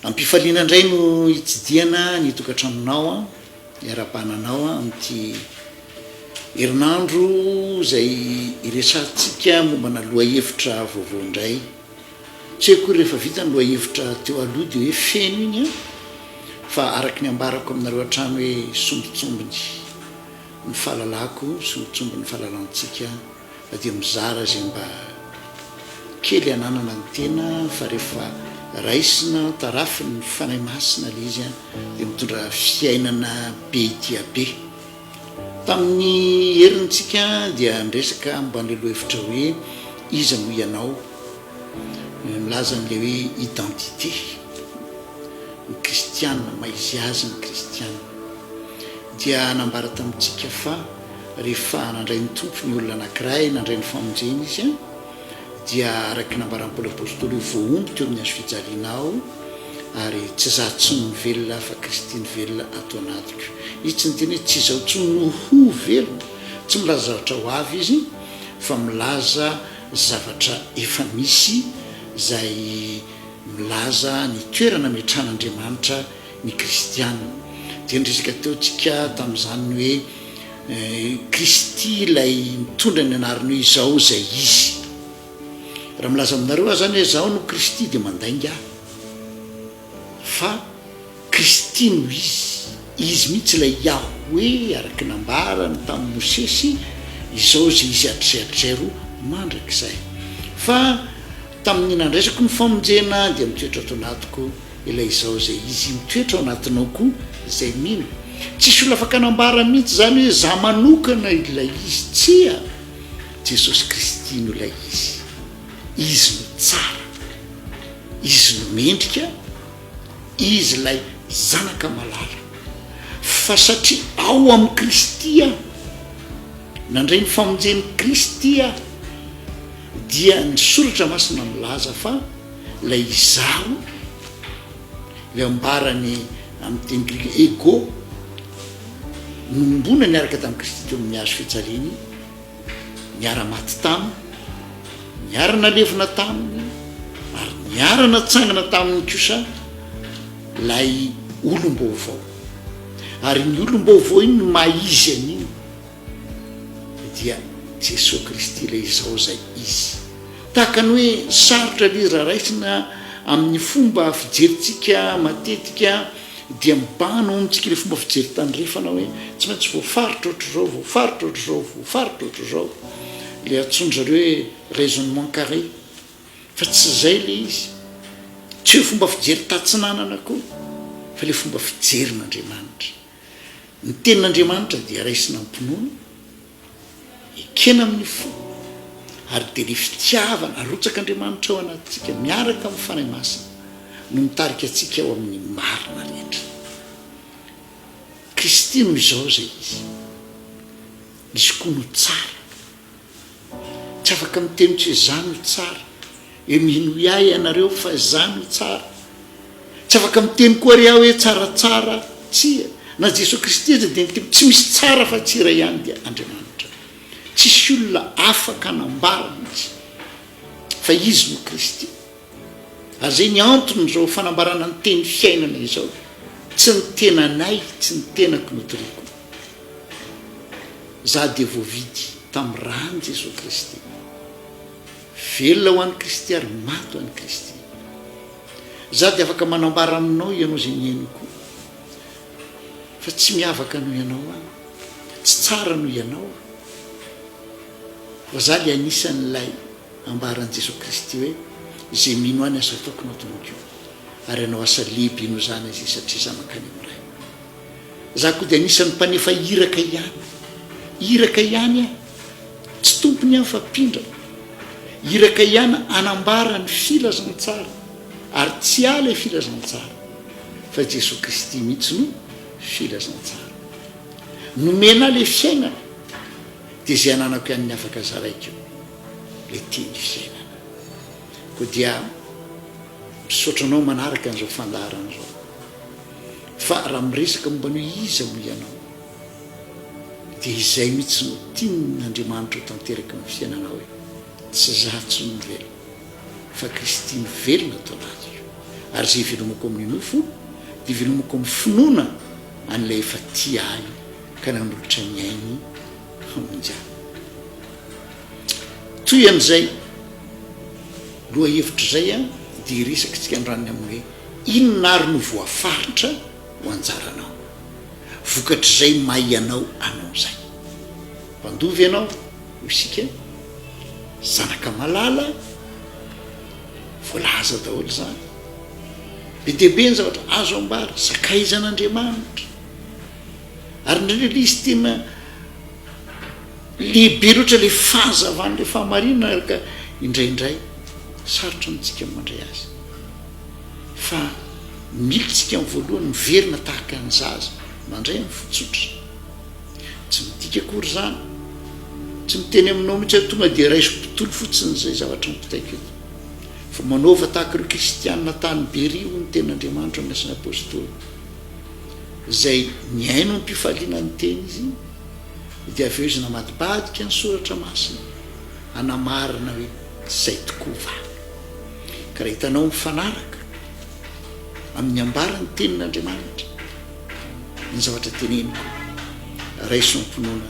Am-pifaliana indray no hitsidihana ny tokantranonao hiara-bahana anao amin'ity herinandro izay hiresahantsika mombana lohahevitra vaovao indray. Tsy hoe akory rehefa vita ny lohahevitra teo aloha dia hoe feno iny an! Fa araka ny ambarako aminareo hatrany hoe sombintsombiny ny fahalalako, sombintsombiny ny fahalalantsika. Na dia mizara izay mba kely ananana ny tena fa rehefa raisina tarafin ny Fanahy Masina ilay izy dia mitondra fiainana be dia be. Tamin ny heriny tsika dia niresaka momba an'ilay lohevitra hoe Iza moa ianao? Milaza an'ilay hoe identité ny kristiana, maha izy azy ny kristiana. dia nambara tamintsika fa rehefa nandray ny Tompo ny olona anankiray, nandray ny famonjena izy, dia araka ny nambaran'i Paoly Apostoly io voahombo teo amin'ny hazo fijaliana aho, ary tsy izaho intsony no velona fa Kristy no velona ato anatiko. Izy tsy niteny hoe tsy izaho intsony no ho velona, tsy milaza zavatra ho avy izy fa milaza zavatra efa misy izay milaza ny toerana ametrahan'Andriamanitra ny kristiana. Dia niresaka teo tsika tamin'izany ny hoe Kristy ilay mitondra ny anarany hoe izao izay izy. Raha milaza aminareo aho izany hoe izaho no Kristy dia mandainga aho. Fa Kristy no izy. Izy mihitsy ilay Yahweh araka ny nambarany tamin'i Mosesy, izao izay izy hatrizay hatrizay ro mandrakizay. Fa tamin'ny nandraisako ny famonjena dia mitoetra ato anatiko. Ilay izaho izay izy mitoetra ao anatinao koa izay mino. Tsisy olona afaka hanambara mihitsy izany hoe izaho manokana ilay izy. Tsia! Jesosy Kristy no ilay izy. Izy no tsara. Izy no mendrika. Izy ilay Zanaka malala. Fa satria ao amin'i Kristy aho, nandray ny famonjen'i Kristy aho, dia ny Soratra Masina milaza fa, Ilay izaho, ilay ambarany amin'ny teny grika ego, nohombona niaraka tamin'i Kristy teo amin'ny hazo fijaliany, niara-maty taminy, niara-nalevina taminy, ary niara-natsangana taminy kosa ilay olom-baovao. Ary iny olom-baovao iny no maha izy an'iny dia Jesoa Kristy ilay izao izay Izy. Tahaka ny hoe sarotra ilay izy raha raisina amin'ny fomba fijerintsika matetika dia mibano ao amintsika ilay fomba fijery tandrefana hoe tsy maintsy voafaritra ohatr'izao, voafaritra ohatr'izao, voafaritra ohatr'izao, ilay antsoin-dry zareo hoe raisonnement carré, fa tsy izay ilay izy. Tsy hoe fomba fijery tatsinanana akory fa ilay fomba fijerin'Andriamanitra. Ny tenin'Andriamanitra dia raisina am-pinoana, ekena amin'ny fo, ary dia ilay fitiavana arotsak'Andriamanitra ao anatintsika miaraka amin'ny Fanahy Masina no mitarika antsika ao amin'ny marina rehetra. Kristy no izao izay izy, izy koa no tsara. Tsy afaka miteny tsy izaho no tsara. Hoe minoy ahy ianareo fa izaho no tsara. Tsy afaka miteny koa re aho hoe tsaratsara. Tsia, na Jesoa Kristy aza dia niteny, tsy misy tsara afa tsy iray ihany dia Andriamanitra. Tsisy olona afaka hanambara mihitsy fa Izy no Kristy. Azay ny antony izao fanambarana ny teny fiainana izao, tsy ny tenanay, tsy ny tenako no toriako. Za dia voavidy tamin'ny ràn'i Jesoa Kristy. Velona ho an'i Kristy ary maty ho an'i Kristy. Za dia afaka manambara aminao ianao izay niainako io. Fa tsy miavaka noho ianao aho. Tsy tsara noho ianao aho. Fa za le anisan'ilay Ambaran'i Jesoa Kristy hoe, Izay mino ahy ny asa ataoko no ataony koa, ary hanao asa lehibe noho izany izy, satria izaho mankany amin'ny Ray. Izaho koa dia anisan'ny mpanefa iraka ihany. Iraka ihany aho. Tsy tompony aho fa mpindrana. Iraka ihany hanambara ny filazantsara, ary tsy ahy ilay filazantsara, fa Jesoa Kristy mihitsy no filazantsara. Nomena ahy ilay fiainana, dia izay ananako ihany ny afaka zaraiko. le tia ny fiainana. Koa dia misaotra anao manaraka an'izao fandaharana izao. Fa raha miresaka momba ny hoe iza moa ianao dia izay mihitsy no tian'Andriamanitra ho tanteraky ny fiainanao e. Tsy za intsony no velona fa Kristy no velona ato anatiko. Ary izay ivelomako amin'ny nofo dia ivelomako amin'ny finoana an'ilay efa tia ahy ka nanolotra ny ainy hamonjana. Toy an'izay lohahevitra izay dia hiresakitsika ny ran'ny amin'ny hoe inona ary no voafaritra ho anjaranao. Vokatr'izay may ianao hanao izay. Mpandova ianao, hoy isika, zanaka malala, voalaza daholo izany. Be dia be ny zavatra azo ambara, sakaizan'Andriamanitra. Ary indraindray ilay izy tena lehibe loatra ilay fahazavan'ilay fahamarinana ary ka indraindray sarotra amintsika ny mandray azy fa mila tsika amin'ny voalohany miverina tahaka ny zaza mandray amin'ny fotsotra tsy midika kory izany tsy miteny aminao mihitsy hoe tonga dia raiso mpitolo fotsiny izay zavatra mipitaiko eto fa manaova tahaka ireo kristianina tany beria ho ny ten'andriamanitra ny asan'ny apôstôly izay nihaino am-pifaliana ny teny izy, dia avy eo izy namadibadika ny Soratra Masina, hanamarina hoe izay tokoa va. Ka raha hitanao mifanaraka amin'ny ambaran'ny Tenin'Andriamanitra ny zavatra teneniko, raiso am-pinoana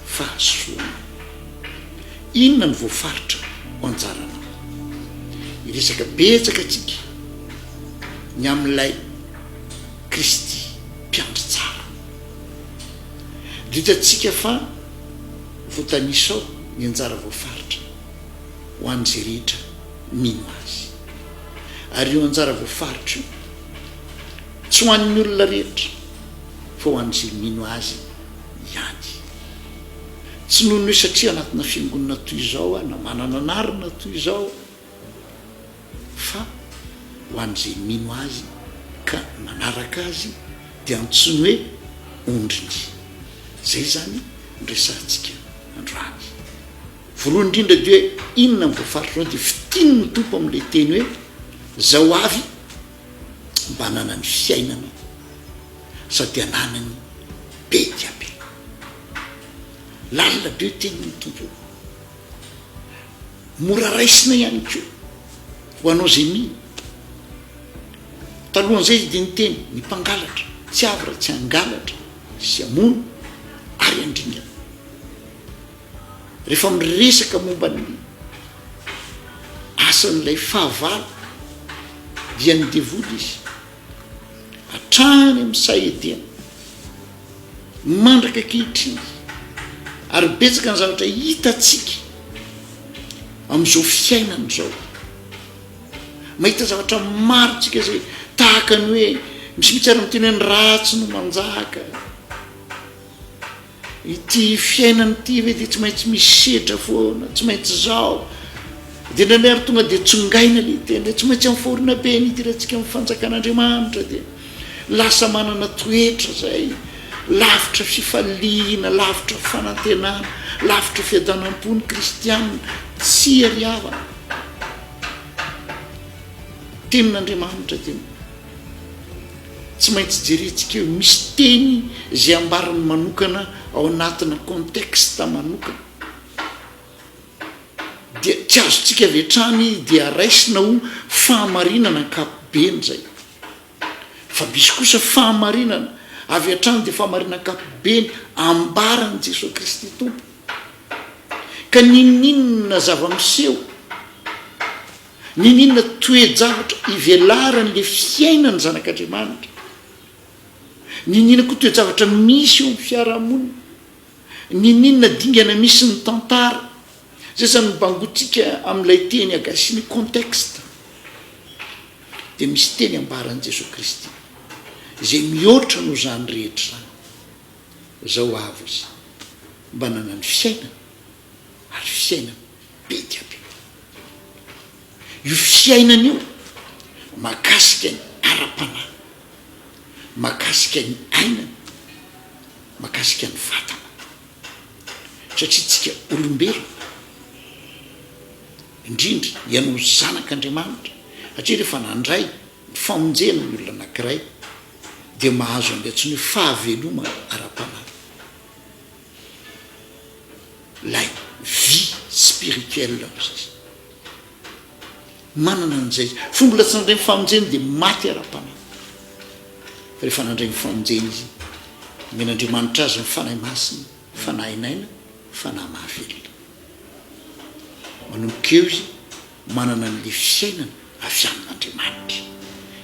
fahasoana. Inona no voafaritra ho anjaranao? Hiresaka betsaka antsika ny amin'ilay. Kristy Mpiandry Tsara. Dia hitantsika fa voatanisa ao ny anjara voafaritra ho an'izay rehetra mino Azy. Ary io anjara voafaritra io, tsy ho an'ny olona rehetra, fa ho an'izay mino Azy ihany. Tsy noho ny hoe satria anatina fiangonana toy izao aho, na manana anarana toy izao, Fa ho an'izay mino Azy ka manaraka Azy dia antsoiny hoe ondriny. Izay izany no resahantsika androany. Voalohany indrindra dia hoe inona ny voafaritro dia fitin' ny Tompo amin'ilay teny hoe izao avy mba hananany fiainana sady hananany be dia be. Lalina be io tenin'ny Tompo io. Mora raisina ihany koa ho anao izay mino. Talohan'izay izy dia niteny, Ny mpangalatra tsy avy raha tsy hangalatra sy hamono ary handringana. Rehefa miresaka momba ny asan'ilay fahavalo dia ny devoly izy. hatrany amin'ny saha edimy mandraka ankehitriny ary betsaka ny zavatra hitantsika amin'izao fiainana izao mahita zavatra maro tsika zay tahaka ny hoe misy mitsy ara miteny hoe ny ratsy no manjaka Ity fiainana ity ve dia tsy maintsy misy sedra foana, tsy maintsy izao. Dia indraindray ary tonga dia tsongaina ilay tena hoe tsy maintsy amin'ny fahoriana be ny hidirantsika amin'ny fanjakan'Andriamanitra dia lasa manana toetra izay lavitra fifaliana, lavitra fanantenana, lavitra fiadanam-po ny kristianina. Tsia ry havana, ny tenin'Andriamanitra dia Tsy maintsy jerentsika eo misy teny izay ambarany manokana ao anatina contexte manokana dia tsy azontsika avy hatrany dia raisina ho fahamarinana ankapobeny izay fa misy kosa fahamarinana avy hatrany dia fahamarinana ankapobeny ambarany Jesoa Kristy Tompo ka ninoninona zava-miseho Nininona toe-javatra ivelaran'ilay fiainan'ny zanak'Andriamanitra? Nininona koa toe-javatra misy eo amin'ny fiarahamonina? Nininona dingana misy ny tantara? Izay izany no bangointsika amin'ilay teny agasiny contexte. Dia misy teny ambaran'i Jesoa Kristy izay mihoatra noho izany rehetra izany. Izao avy izy, mba nanany fiainana. ary io fiainana be dia be io fiainana io mahakasika ny ara-panahy, mahakasika ny aina, mahakasika ny vatana satria tsika olombelona indrindra ianao zanak'Andriamanitra satria rehefa nandray ny famonjena ny olona anankiray dia mahazo an'ilay antsoina hoe fahavelomana ara-panahy. ilay vie spirituelle hoy izy. Manana an'izay izy. Fa mbola tsy nandray ny famonjeny dia maty ara-panahy. Fa rehefa nandray ny famonjeny izy, nomen'Andriamanitra azy ny Fanahy Masina, Fanahin'aina, Fanahy mahavelona. Manomboka eo izy. Manana ny lify fiainana avy amin'Andriamanitra.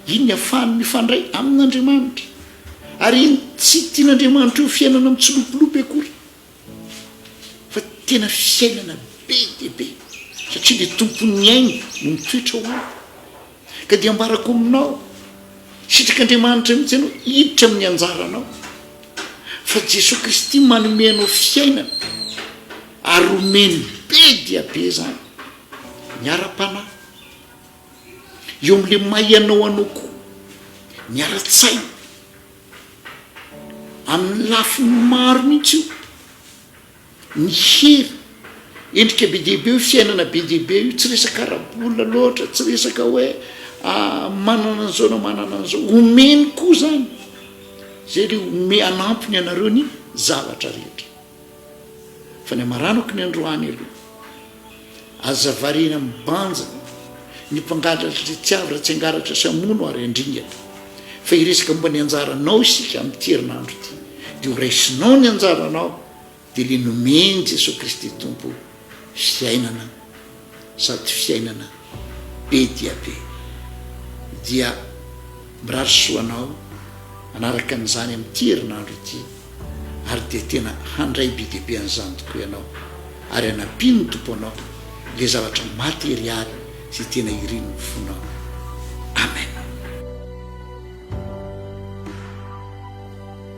Iny ny afahany mifandray amin'Andriamanitra. Ary iny tsy tian'Andriamanitra io fiainana mitsilopilopy akory, fa tena fiainana be dia be, satria ilay Tompon'ny aina no mitoetra ao aminy. Ka dia ambarako aminao, sitrik'Andriamanitra mihitsy ianao hiditra amin'ny anjaranao, fa Jesoa Kristy manome anao fiainana. Ary omeny be dia be izany ny ara-panahy. Eo amin'ilay maha ianao anao koa ny ara-tsaina. Amin'ny lafiny maro mihitsy io. Ny hery, endrika be dia be io, fiainana be dia be io, tsy resaka ara-bola loatra, tsy resaka hoe manana an'izao na manana an'izao. Omeny koa izany, izay dia home- hanampy ny anareo ny zavatra rehetra. Fa ny amaranako ny androany aloha. Aza variana amin'ny banja ny mpangalatra ry tsy avy raha tsy hangalatra sy hamono ary handringana. Fa hiresaka momba ny anjaranao isika amin'ity herinandro ity. Dia ho raisinao ny anjaranao dia ilay nomen'i Jesoa Kristy Tompo fiainana. sady fiainana be dia be dia mirary soa anao manaraka an'izany amin'ity herinandro ity ary dia tena handray be dia be an'izany tokoa ianao ary hanampin'ny Tompo anao le zavatra materialy sy tena irin'ny fonao. Amen.